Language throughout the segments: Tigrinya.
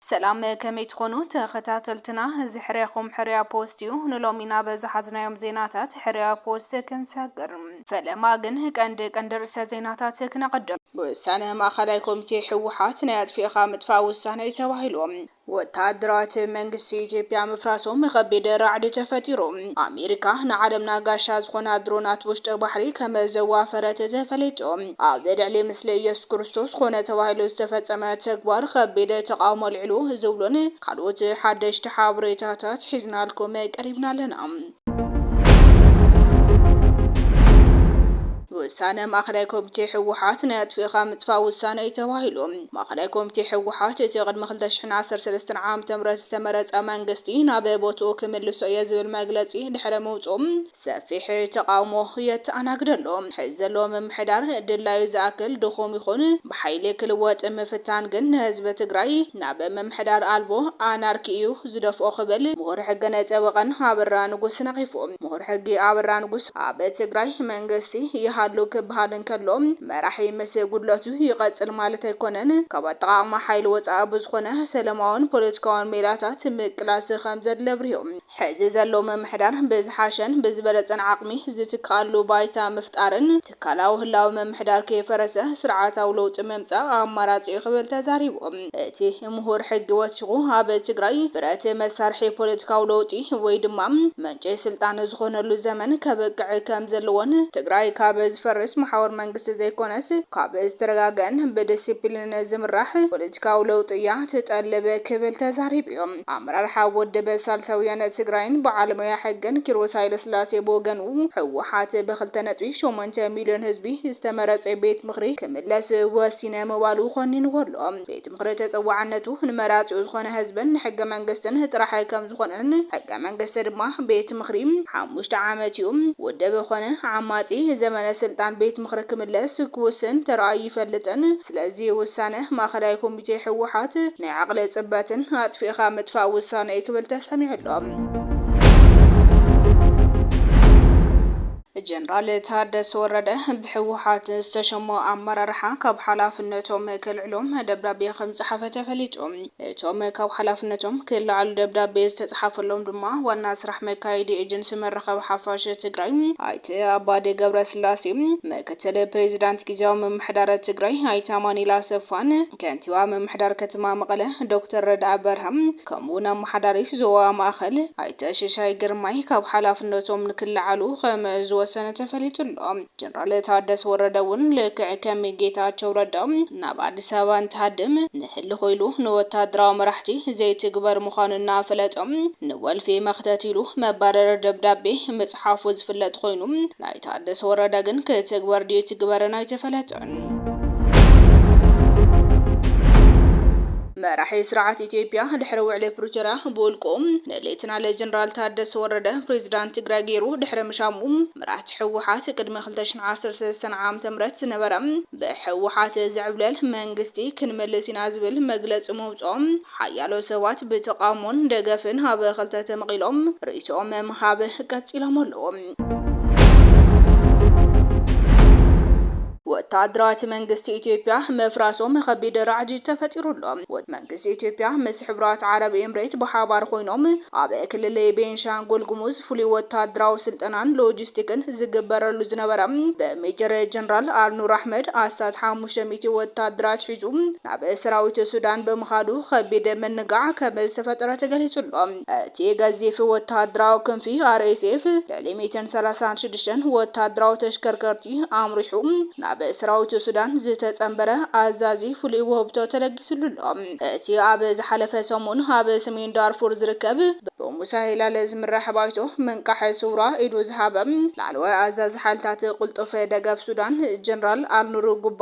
ሰላም ከመይ ትኾኑ ተኸታተልትና እዚ ሕርያኹም ሕርያ ፖስት እዩ ንሎሚ ናብ ዝሓዝናዮም ዜናታት ሕርያ ፖስት ክንሰግር ፈለማ ግን ቀንዲ ቀንዲ ርእሰ ዜናታት ክነቐድም። ውሳነ ማእኸላይ ኮሚቴ ህወሓት ናይ ኣጥፊእኻ ምጥፋእ ውሳነ እዩ ተባሂሉ። ወታሃደራት መንግስቲ ኢትዮጵያ ምፍራሶም ኸቢድ ራዕዲ ተፈጢሩ። ኣሜሪካ ንዓለምና ጋሻ ዝኾና ድሮናት ውሽጢ ባሕሪ ከም ዘዋፈረት ተፈሊጡ። ኣብ ልዕሊ ምስሊ ኢየሱስ ክርስቶስ ኮነ ተባሂሉ ዝተፈጸመ ተግባር ኸቢድ ተቓውሞ ኣልዒሉ ዝብሉን ካልኦት ሓደሽቲ ሓበሬታታት ሒዝናልኩም ቀሪብና ኣለና። ውሳነ ማእኸላይ ኮሚቴ ህወሓት ናይ ኣጥፊእኻ ምጥፋእ ውሳነ እዩ ተባሂሉ። ማእኸላይ ኮሚቴ ህወሓት እቲ ቅድሚ ክልተ ሽሕን ዓሰርተ ሰለስተን ዓም ትምረት ዝተመረፀ መንግስቲ ናብ ቦትኡ ክምልሶ እየ ዝብል መግለፂ ድሕሪ ምውፅኡ ሰፊሕ ተቓውሞ የተኣናግድ ኣሎ። ሕዚ ዘሎ ምምሕዳር ድላዩ ዝኣክል ድኹም ይኹን ብሓይሊ ክልወጥ ምፍታን ግን ንህዝቢ ትግራይ ናብ ምምሕዳር ኣልቦ ኣናርኪ እዩ ዝደፍኦ ክብል ምሁር ሕግን ጠበቓን ኣበራ ንጉስ ነቒፉ። ምሁር ሕጊ ኣበራ ንጉስ፣ ኣብ ትግራይ መንግስቲ ይሃሉ ክበሃል እንከሎ መራሒ ምስ ጉድለቱ ይቐፅል ማለት ኣይኮነን። ካብ ኣጠቓቕማ ሓይሊ ወፃኢ ብዝኾነ ሰለማውን ፖለቲካውን ሜላታት ምቅላስ ከምዘድሊ ኣብሪሁ። ሕዚ ዘሎ ምምሕዳር ብዝሓሸን ብዝበለፀን ዓቕሚ ዝትከኣሉ ባይታ ምፍጣርን ትካላዊ ህላወ ምምሕዳር ከይፈረሰ ስርዓታዊ ለውጢ ምምፃእ ኣማራፂ እዩ ክብል ተዛሪቡ። እቲ ምሁር ሕጊ ወሲኹ፣ ኣብ ትግራይ ብረት መሳርሒ ፖለቲካዊ ለውጢ ወይ ድማ ምንጪ ስልጣን ዝኾነሉ ዘመን ከብቅዕ ከም ዘለዎን፣ ትግራይ ካብ ዝፈርስ መሓውር መንግስቲ ዘይኮነስ ካብ ዝተረጋገኣን ብዲሲፕሊንን ዝምራሕ ፖለቲካዊ ለውጢ እያ ትጠልብ ክብል ተዛሪቡ'ዩ። ኣመራርሓ ወደበ ሳልሳውያን ትግራይን በዓል ሞያ ሕግን ኪሮስ ሃይለስላሴ ብወገኑ፣ ህወሓት ብክልተ ነጥቢ ሸሞንተ ሚልዮን ህዝቢ ዝተመረፀ ቤት ምኽሪ ክምለስ ወሲነ ምባሉ ኾኒንዎ ኣሎ። ቤት ምኽሪ ተፀዋዕነቱ ንመራፂኡ ዝኾነ ህዝብን ንሕገ መንግስትን ጥራሕ ከምዝኾነን ሕገ መንግስቲ ድማ ቤት ምኽሪ ሓሙሽተ ዓመት ዩ፣ ውድብ ኾነ ዓማፂ ዘመነ ስልጣን ቤት ምኽሪ ክምለስ ክውስን ተራእዩ ኣይፈልጥን፣ ስለዚ ውሳነ ማእኸላይ ኮሚቴ ህወሓት ናይ ዓቕሊ ፅበትን ኣጥፊእኻ ምጥፋእ ውሳነ እዩ ክብል ተሰሚዑ ኣሎ። ጀነራል ታደሰ ወረደ ብህወሓት ዝተሸሙ ኣመራርሓ ካብ ሓላፍነቶም ከልዕሎም ደብዳቤ ከምፀሓፈ ተፈሊጡ። እቶም ካብ ሓላፍነቶም ክለዓሉ ደብዳቤ ዝተፅሓፈሎም ድማ ዋና ስራሕ መካየዲ ኤጀንሲ መራኸቢ ሓፋሽ ትግራይ ኣይተ ኣባዲ ገብረስላሴ፣ ምክትል ፕሬዚዳንት ጊዜያዊ ምምሕዳረ ትግራይ ኣይተ ኣማኒኤል ኣሰፋን ከንቲባ ምምሕዳር ከተማ መቐለ ዶክተር ረድኣ በርሀ ከምኡ ውን ኣመሓዳሪ ዞባ ማእኸል ኣይተ ሽሻይ ግርማይ ካብ ሓላፍነቶም ንክለዓሉ ከምዝወሰነ ተፈሊጡ ኣሎ። ጀነራል ታደሰ ወረደ ውን ልክዕ ከም ጌታቸው ረዳ ናብ ኣዲስ ኣበባ እንትሃድም ንህልኽ ኢሉ ንወታደራዊ መራሕቲ ዘይትግበር ምዃኑ እናፈለጠ ንወልፊ መኽተት ኢሉ መባረሪ ደብዳቤ ምፅሓፉ ዝፍለጥ ኾይኑ ናይ ታደሰ ወረደ ግን ክትግበር ድዩ ኣይትግበርን ኣይተፈለጠን። መራሒ ስርዓት ኢትዮጵያ ድሕሪ ውዕሊ ፕሪቶርያ ብውልቁ ንሌተናል ጀነራል ታደሰ ወረደ ፕሬዚዳንት ትግራይ ገይሩ ድሕሪ ምሻሙ መራሕቲ ህወሓት ቅድሚ ክልተ ሽሕ ዓሰርተ ሰለስተ ዓመተ ምህረት ዝነበረ ብህወሓት ዝዕብለል መንግስቲ ክንምልስ ኢና ዝብል መግለፂ ምውፅኦም ሓያሎ ሰባት ብተቓውሞን ደገፍን ኣብ ክልተ ተመቒሎም ርእይቶኦም ምሃብ ቀፂሎም ኣለዉ። ወተሃደራት መንግስቲ ኢትዮጵያ ምፍራሶም ኸቢድ ራዕዲ ተፈጢሩ ኣሎ። መንግስቲ ኢትዮጵያ ምስ ሕቡራት ዓረብ ኤምሬት ብሓባር ኮይኖም ኣብ ክልል ቤንሻንጉል ጉሙዝ ፍሉይ ወተሃደራዊ ስልጠናን ሎጂስቲክን ዝግበረሉ ዝነበረ ብሜጀር ጀነራል ኣልኑር ኣሕመድ ኣስታት ሓሙሽተ ሚእቲ ወተሃደራት ሒዙ ናብ ሰራዊት ሱዳን ብምኻዱ ኸቢድ ምንጋዕ ከም ዝተፈጠረ ተገሊጹ ኣሎ። እቲ ገዚፍ ወተሃደራዊ ክንፊ RSF ልዕሊ ሚእትን ሰላሳን ሽዱሽተን ወተሃደራዊ ተሽከርከርቲ ኣምሪሑ ናብ ሰራዊት ሱዳን ዝተጸንበረ ኣዛዚ ፍሉይ ውህብቶ ተለጊስሉ ኣሎ። እቲ ኣብ ዝሓለፈ ሰሙን ኣብ ሰሜን ዳርፉር ዝርከብ ብሙሳ ሂላል ዝምራሕ ባይቶ ምንቃሕ ስውራ ኢዱ ዝሃበ ላዕለዋይ ኣዛዚ ሓይልታት ቅልጡፍ ደገፍ ሱዳን ጀነራል ኣልኑር ጉባ፣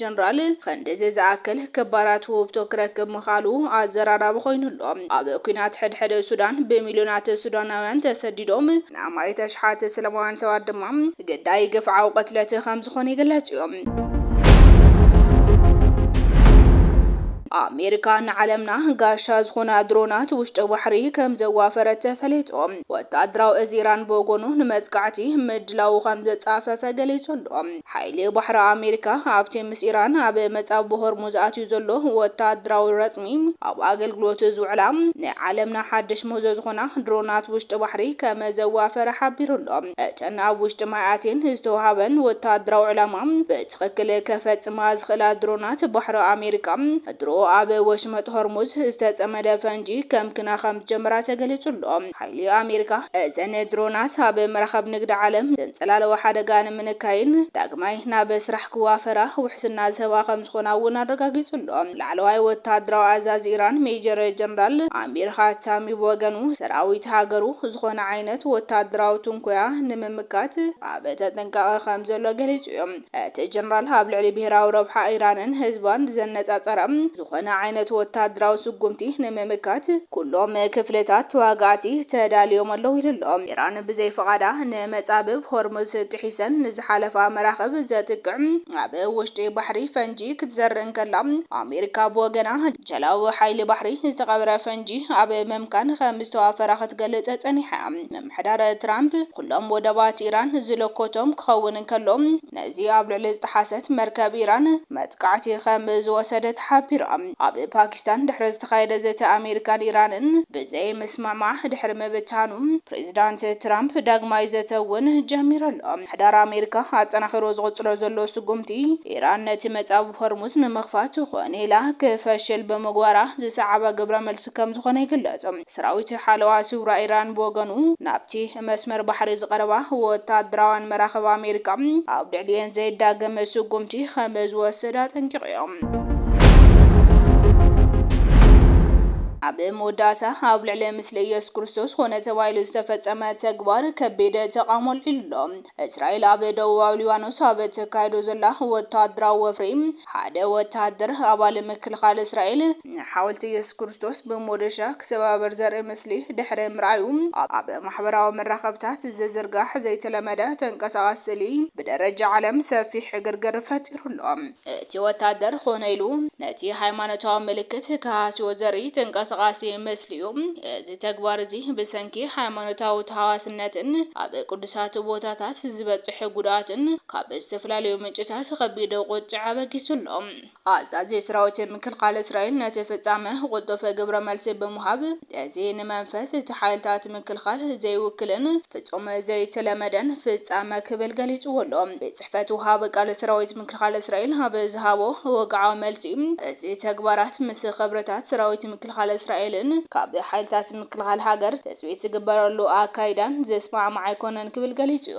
ጀነራል ኸንድዚ ዝኣክል ክባራት ውህብቶ ክረክብ ምኽኣሉ ኣዘራራቢ ኾይኑ ኣሎ። ኣብ ኲናት ሕድሕድ ሱዳን ብሚልዮናት ሱዳናውያን ተሰዲዶም፣ ንኣማኢት ኣሽሓት ሰላማውያን ሰባት ድማ ግዳይ ግፍዓዊ ቅትለት ከምዝኾኑ ይግለጽ እዩ። ኣሜሪካ ንዓለምና ጋሻ ዝኾና ድሮናት ውሽጢ ባሕሪ ከምዘዋፈረት ተፈሊጡ። ወተሃደራዊ እዚ ኢራን ብወገኑ ንመጥቃዕቲ ምድላዉ ከምዘጻፈፈ ገሊጹ ኣሎ። ሓይሊ ባሕሪ ኣሜሪካ ኣብቲ ምስ ኢራን ኣብ መጻብቦ ሆርሙዝ ኣትዩ ዘሎ ወተሃደራዊ ረጽሚ ኣብ ኣገልግሎት ዝውዕላ ናይ ዓለምና ሓድሽ ምህዞ ዝኾና ድሮናት ውሽጢ ባሕሪ ከመዘዋፈረ ሓቢሩ ኣሎ። እተን ኣብ ውሽጢ ማይ ኣትየን ዝተወሃበን ወተሃደራዊ ዕላማ ብትኽክል ከፈጽማ ዝኽእላ ድሮናት ባሕሪ ኣሜሪካ ድሮ ኣብ ወሽመጥ ሆርሙዝ ዝተጸመደ ፈንጂ ከምክና ከምዝጀመራ ተገሊጹ ኣሎ። ሓይሊ ኣሜሪካ፣ እዘን ድሮናት ኣብ መራኽብ ንግዲ ዓለም ዘንጸላለወ ሓደጋ ንምንካይን ዳግማይ ናብ ስራሕ ክዋፈራ ውሕስና ዝህባ ከምዝኾና እውን ኣረጋጊጹ ኣሎ። ላዕለዋይ ወተሃደራዊ ኣዛዚ ኢራን ሜጀር ጀነራል ኣሚር ሃታሚ ብወገኑ፣ ሰራዊት ሃገሩ ዝኾነ ዓይነት ወተሃደራዊ ትንኮያ ንምምካት ኣብ ተጠንቃቒ ከምዘሎ ገሊጹ እዩ። እቲ ጀነራል ኣብ ልዕሊ ብሄራዊ ረብሓ ኢራንን ህዝባን ብዘነጻጸረ፣ ዝኾነ ዓይነት ወተሃደራዊ ስጉምቲ ንምምካት ኩሎም ክፍልታት ተዋጋእቲ ተዳልዮም ኣለዉ ኢሉ'ሎ። ኢራን ብዘይ ፍቓዳ ንመጻብብ ሆርሙዝ ጥሒሰን ንዝሓለፋ መራኽብ ዘጥቅዕ፣ ኣብ ውሽጢ ባሕሪ ፈንጂ ክትዘርእ እንከላ፣ ኣሜሪካ ብወገና ጀላቡ ሓይሊ ባሕሪ ዝተቐብረ ፈንጂ ኣብ ምምካን ከምዝተዋፈራ ክትገልጽ ጸኒሓ'ያ። ምሕደራ ትራምፕ ኩሎም ወደባት ኢራን ዝለኮቶም ክኸውን እንከሎ፣ ነዚ ኣብ ልዕሊ ዝጠሓሰት መርከብ ኢራን መጥቃዕቲ ከም ዝወሰደ ተሓቢሩ። ኣብ ፓኪስታን ድሕሪ ዝተኻየደ ዘተ ኣሜሪካን ኢራንን ብዘይምስምዕማዕ ድሕሪ ምብታኑ፣ ፕሬዚዳንት ትራምፕ ዳግማይ ዘተ እውን ጀሚሩ ኣሎ። ምሕደራ ኣሜሪካ ኣጠናኺሩ ዝቕፅሎ ዘሎ ስጉምቲ ኢራን ነቲ መፃብብ ሆርሙዝ ንምኽፋት ኾን ኢላ ክፈሽል ብምግባራ ዝሰዓበ ግብረ መልሲ ከም ዝኾነ ይግለፅ። ሰራዊት ሓለዋ ስውራ ኢራን ብወገኑ፣ ናብቲ መስመር ባሕሪ ዝቐረባ ወተሃደራውያን መራኽብ ኣሜሪካ፣ ኣብ ልዕሊኤን ዘይዳገም ስጉምቲ ከም ዝወስድ ኣጠንቂቑዮ። ኣብ መወዳእታ፣ ኣብ ልዕሊ ምስሊ ኢየሱስ ክርስቶስ ኾነ ተባሂሉ ዝተፈጸመ ተግባር ከቢድ ተቓውሞ ኣልዒሉ ኣሎ። እስራኤል ኣብ ደቡባዊ ሊባኖስ ኣብ እተካይዶ ዘላ ወተሃደራዊ ወፍሪ፣ ሓደ ወተሃደር ኣባል ምክልኻል እስራኤል፣ ሓወልቲ ኢየሱስ ክርስቶስ ብሞዶሻ ክሰባበር ዘርኢ ምስሊ ድሕሪ ምርኣዩ፣ ኣብ ማሕበራዊ መራኸብታት ዝዝርጋሕ ዘይተለመደ ተንቀሳቓሲ ስእሊ ብደረጃ ዓለም ሰፊሕ ዕግርግር ፈጢሩ ኣሎ። እቲ ወታደር ኮነ ኢሉ ነቲ ሃይማኖታዊ ምልክት ክሃስዮ ዘርኢ ተንቀሳቓሲ ምስሊ እዩ። እዚ ተግባር እዚ ብሰንኪ ሃይማኖታዊ ተሃዋስነትን ኣብ ቅዱሳት ቦታታት ዝበጽሕ ጉድኣትን ካብ ዝተፈላለዩ ምንጭታት ከቢድ ቁጥዐ ኣበጊሱ ኣሎ። ኣዛዚ ሰራዊት ምክልኻል እስራኤል ነቲ ፍጻመ ቕልጡፍ ግብረ መልሲ ብምሃብ፣ እዚ ንመንፈስ እቲ ሓይልታት ምክልኻል ዘይውክልን ፍጹም ዘይተለመደን ፍጻመ ክብል ገሊጽዎ ኣሎ። ቤት ጽሕፈት ወሃቢ ቃል ሰራዊት ምክልኻል እስራኤል ኣብ ዝሃቦ ወግዓዊ መልሲ፣ እዚ ተግባራት ምስ ኽብርታት ሰራዊት ምክልኻል እስራኤልን ካብ ሓይልታት ምክልኻል ሃገር ትጽቢት ዝግበረሉ ኣካይዳን ዝስማዕማዕ ኣይኮነን ክብል ገሊጹ'ዩ።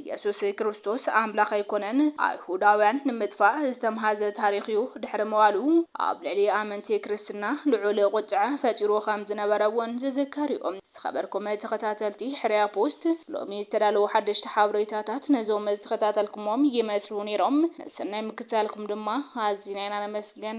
ኢየሱስ ክርስቶስ ኣምላኽ ኣይኮነን። ኣይሁዳውያን ንምጥፋእ ዝተምሃዘ ታሪኽ እዩ። ድሕሪ ምባሉ ኣብ ልዕሊ ኣመንቲ ክርስትና ልዑል ቁጥዐ ፈጢሩ ከም ዝነበረ እውን ዝዝከር እዩ። ዝኸበርኩም ተኸታተልቲ ሕርያ ፖስት ሎሚ ዝተዳለዉ ሓደሽቲ ሓበሬታታት ነዞም ዝተኸታተልኩሞም ይመስሉ ነይሮም። ንሰናይ ምክትታልኩም ድማ ኣዚና ኢና ነመስግን።